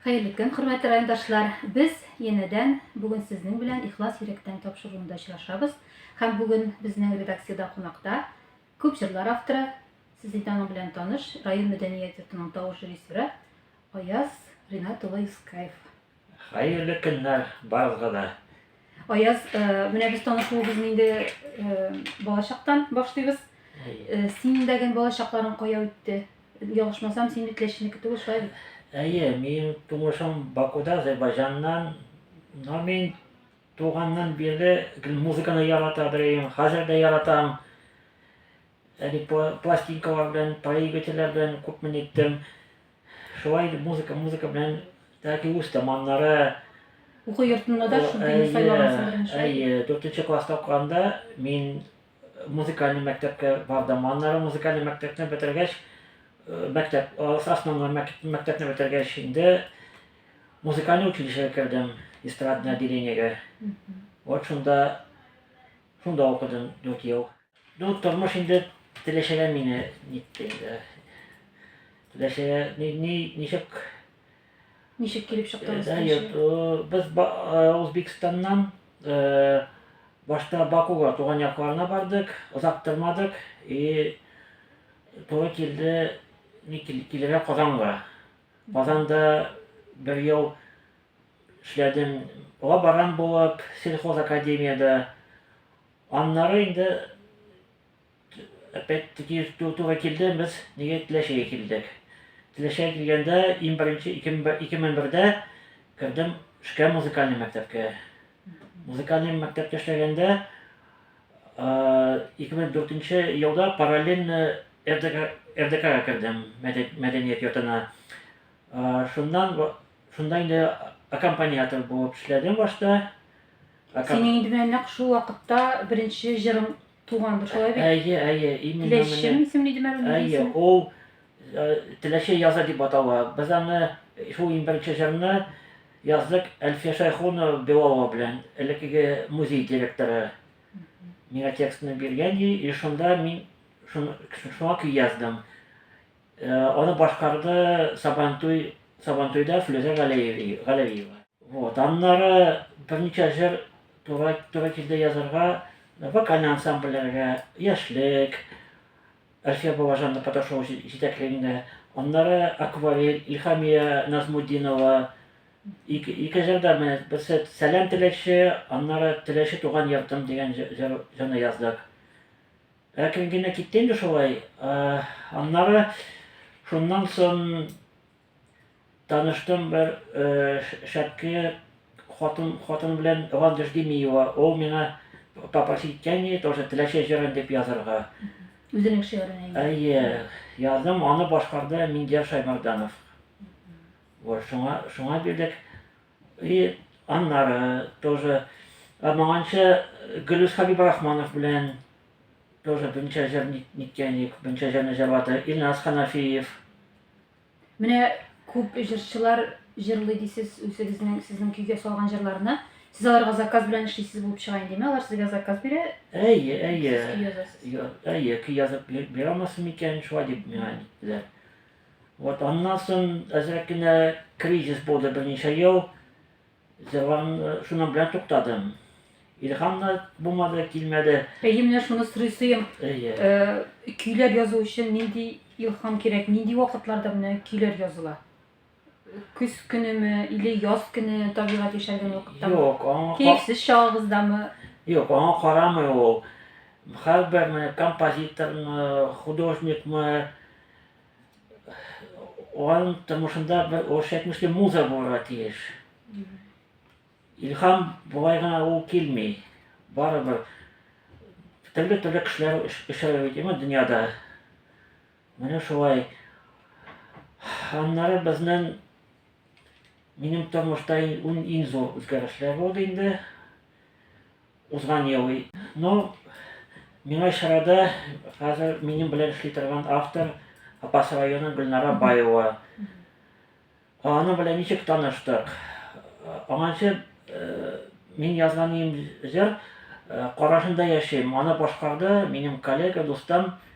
Хәерле көн, хөрмәтле райондашлар! Без янәдән бүген сезнең белән Ихлас йөрәктән тапшыруында очрашабыз. Һәм бүген безнең редакциядә кунакта күп җырлар авторы, сез инде аның белән таныш, район мәдәният йортының тавыш режиссеры Аяз Ринат улы Юскаев. Хәерле көннәр барыгызга да. Аяз, э, менә без танышуыбызны инде э, балачактан башлыйбыз. Э, Синең дә гел балачакларың кая үтте? Ялгышмасам, син бит Ләчинеке түгел, шулай бит? Әйе, минем тумышым Бакуда, Азербайҗаннан. Но мин туганнан бирле гел музыканы ярата беләм, хәзер дә яратам. Әле пла- пластинкалар белән, проигрывательләр белән күпме ниттем. Шулай итеп музыка, музыка белән тәки үз таманнары Уку йортында да шундый Әйе, сайлагансың беренче. Әйе, дүртенче класста укыганда мин музыкальный мәктәпкә бардым. Аннары музыкальный мәктәпне бетергәч, э, мәктәп, э, основной мәк- мәктәпне бетергәч инде музыкальный училищега кердем, эстрадное отделениегә. Вот шунда, шунда укыдым дүрт ел. Ну, тормыш инде теләчәгә мине нитте инде. Теләчәгә ни ни ничек Ничек килеп чыктыңыз? Да, йорт, без Узбекстаннан э, башта Бакуга туган якларына бардык, озак тормадык и туры килде ни килергә Казанга. Казанда бер ел эшләдем лаборант булып, сельхоз академиядә Аннары инде опять таки туры килде, без нигә Теләчегә килдек. Теләчегә килгәндә иң беренче 2001дә кердем шкә музыкальный мәктәпкә. Музыкальный мәктәптә эшләгәндә 2004 елда параллельно РДКга кердем, мәдәният йортына. Шуннан шунда инде аккомпаниатор булып эшләдем башта. Синең инде менә нәкъ шул вакытта беренче җырың тугандыр, шулай бит? Әйе, әйе, именно менә. Теләчем исемле иде мәгълүм Әйе, ул Теләче яза дип атала. Без аны шул иң беренче җырны яздык Әлфия Шайхунова Белалова белән, элеккеге музей директоры. Миңа текстны биргән и шунда мин шуңа көй яздым. Аны башкарды Сабантуй, Сабантуйда Флүзә Галәвиева. Вот, аннары берничә җыр туры, туры килде язарга, вокальный ансамбльләргә, Яшьлек, Әлфия Бабажанның катнашуы җитәклегендә, аннары Акварель, Илхамия Назмудинова, ике, ике җырда менә берсе Сәлам теләкче, аннары Теләче туган йортым дигән җыр, җырны яздык. Әкрен генә китте инде шулай. Аннары шуннан сон таныштым бер шәпке хатын хатын белән Ландыш Демиева. Ул миңа попросить кәни тоже теләче җырын дип язырга. Үзенең шигырен әйе. Әйе, яздым, аны башкарды Миндияр Шаймарданов. Вот шуңа шуңа бирдек. И аннары тоже моңанчы Гөлүс Хәбибрахманов белән тоже бенчә җыр ниткән идек, бенчә җырны җырлады Илназ Ханафиев. Менә күп җырчылар җырлый дисез үзегезнең сезнең көйгә салган җырларны. Сез аларга заказ белән эшлисез булып чыга инде, әйеме? Алар сезгә заказ бирә? Әйе, әйе. Сез көй язасыз. Әйе, көй язып бирә алмассың микән? Шулай дип миңа әйттеләр. Вот аннан соң әзрәк кенә кризис булды берничә ел. Җырларым шуның белән туктадым. Илһам да булмады, килмәде. Әйе, менә шуны сорыйсыйм. Әйе. Э, көйләр язу өчен нинди илһам кирәк? Нинди вакытларда менә көйләр языла? Көз көнеме или яз көне табигать яшәргән вакыттамы? Юк, аңа кирексез чагыгыздамы? Юк, аңа карамый ул. Һәрбер менә композиторны, художникны Аның тормышында бер урысча әйтмешли муза булырга тиеш. Илһам болай гына ул килми. Барыбер төрле төрле кешеләр очрый бит имә дөньяда. Менә шулай. Аннары безнең минем тормышта иң зур үзгәрешләр булды инде. Узган ел. Ну, миңа чарада хәзер минем белән эшли торган автор Апас районы Гөлнара Баева. Аның белән ничек таныштык? Аңанчы мин язган ием җыр Карашында яшим. Аны башкарды минем коллега, дустым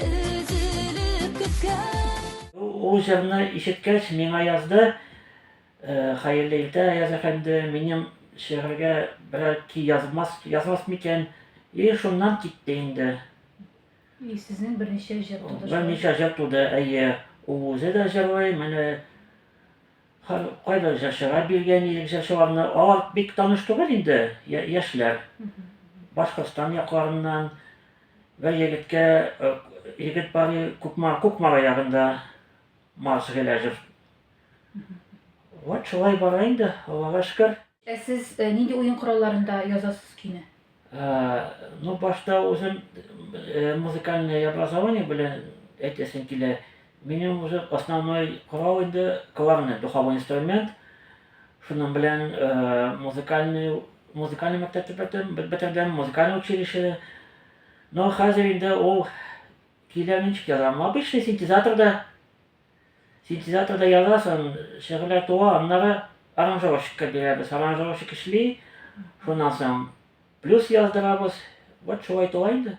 Өзелеп көткән. Ул җырны ишеткәч, миңа язды, Хәерле иртә, Аяз әфәнде, минем шигырьгә берәр көй язмас, язмас микән? И, шуннан китте инде. И, сезнең берничә җыр туды шулай. Берничә җыр туды, әйе. Ул үзе дә җырлый, менә һәр кайбер җырчыга биргән идек җырчыларны. Алар бик таныш түгел инде, яшьләр. Башкортстан якларыннан. Бер егеткә егет бар Кукмара, Кукмара ягында Марс Геләҗев. Вот шулай бара инде, Аллага шөкер. Ә сез нинди уен коралларында язасыз көйне? Ну башта үзем музыкальный образование белән әйтәсем килә, Минем уже основной корал инде кларнет, духовой инструмент. Шуның белән э, музыкальный музыкальный мәктәпне бетердем, бетердем, музыкальный училище. Но хәзер инде ул килә ничек язам. Обычный синтезаторда синтезаторда язасың, шигырьләр туа, аннары аранжировщикка бирәбез. Аранжировщик эшли, шуннан соң плюс яздырабыз. Вот шулай туа инде.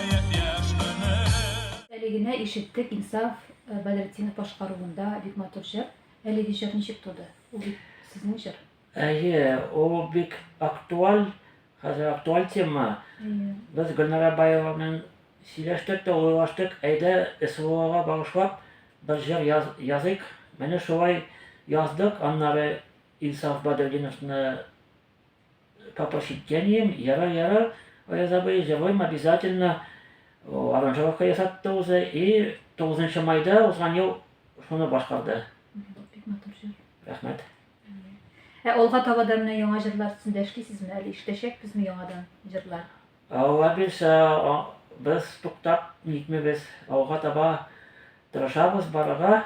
Әле генә ишеттек Инсаф Бәдретдинов башкаруында бик матур җыр. Әлеге җыр ничек туды? Ул бит сезнең җыр. Әйе, ул бик актуаль, хәзер актуаль тема. Без Гөлнара Баева белән сөйләштек тә уйлаштык, әйдә СВОга багышлап бер җыр яз, языйк. Менә шулай яздык, аннары Инсаф Бадретдиновны По посещениям, яра, яра, Аяз абый, живойм обязательно, аранжировка ясатты уже, и 9 майда узган ел шуны башкарды. Бик матур җыр. Рәхмәт. Ә алга таба да менә яңа җырлар өстендә эшлисезме әле? Иштәчәкбезме яңадан җырлар? Алла бирсә, без туктап нитмибез. Алга таба тырышабыз барырга.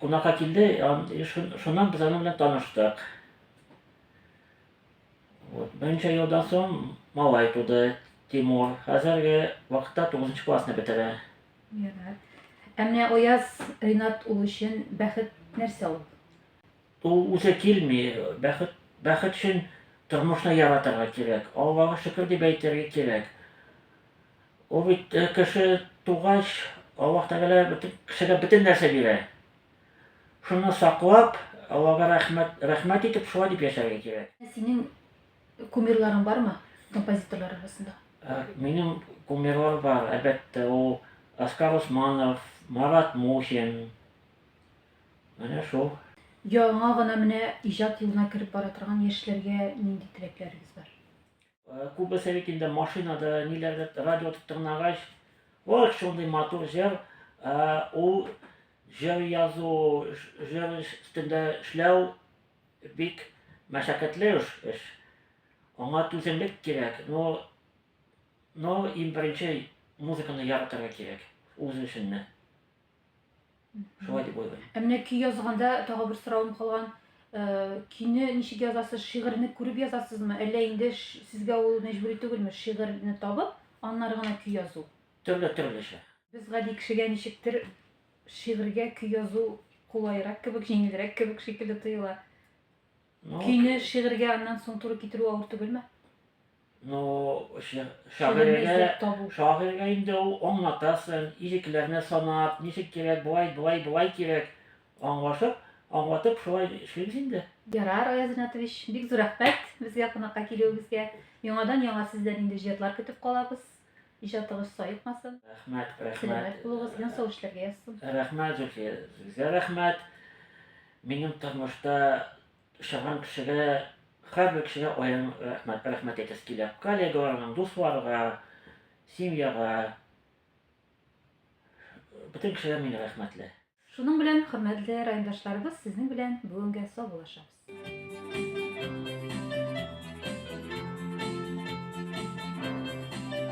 Кунакка килде, шуннан без аның белән таныштык. Вот, берничә елдан соң малай туды, Тимур. Хәзерге вакытта 9 классны бетерә. Ярар. Ә менә Аяз Ринат ул өчен бәхет нәрсә ул? Ул үзе килми, бәхет бәхет өчен тормышны яратырга кирәк. Аллага шөкер дип әйтергә кирәк. Ул бит кеше тугач, Аллаһ Тәгалә кешегә бөтен нәрсә бирә. Шуны саклап, Аллага рәхмәт, рәхмәт итеп, шулай дип яшәргә кирәк. Ә синең кумирларың бармы композиторлар арасында? Минем кумирлар бар, әлбәттә, ул Оскар Усманов, Марат Мухин, менә шул. Яңа гына менә иҗат юлына кереп бара торган яшьләргә нинди теләкләрегез бар? Э, күбесе бит инде машинада ниләрдер радио тотып тыңлагач ох шундый матур җыр э, ул җыр язу җыр өстендә эшләү бик мәшәкатьле эш аңа түземлек кирәк но но иң беренче музыканы яратырга кирәк үз эшеңне Шулай дип уйлыйм. Ә менә көй язганда тагы бер соравым калган. Э, көйне ничек язасыз? Шигырьне күреп язасызмы? Әллә инде сезгә ул мәҗбүри түгелме? Шигырьне табып, аннары гына көй язу. Төрле төрлечә. Без гади кешегә ничектер шигырьгә көй язу кулайрак кебек, җиңелрәк кебек шикелле тоела. Ну, Көйне шигырьгә аннан соң туры китерү авыр түгелме? Ну, шагыйрьгә, шагыйрьгә инде ул аңлатасың, ирекләрне санап, ничек кирәк, болай, болай, болай кирәк, аңлашып, аңлатып шулай эшлибез инде. Ярар, Аяз Ринатович, бик зур рәхмәт безгә кунакка килүегезгә. Яңадан яңа сездән инде җырлар көтеп калабыз. Иҗатыгыз саекмасын. Рәхмәт, рәхмәт. Сәламәт булыгыз, ен сау эшләргә язсын. Рәхмәт, Зульфия, сезгә рәхмәт. Минем тормышта чаган кешегә, һәрбер кешегә аерым рәхмәт, рәхмәт әйтәсе килә. Коллегаларга, дусларга, семьяга. Бөтен кешегә мин рәхмәтле. Шуның белән, хөрмәтле райондашларыбыз, сезнең белән бүгенгә саубуллашабыз.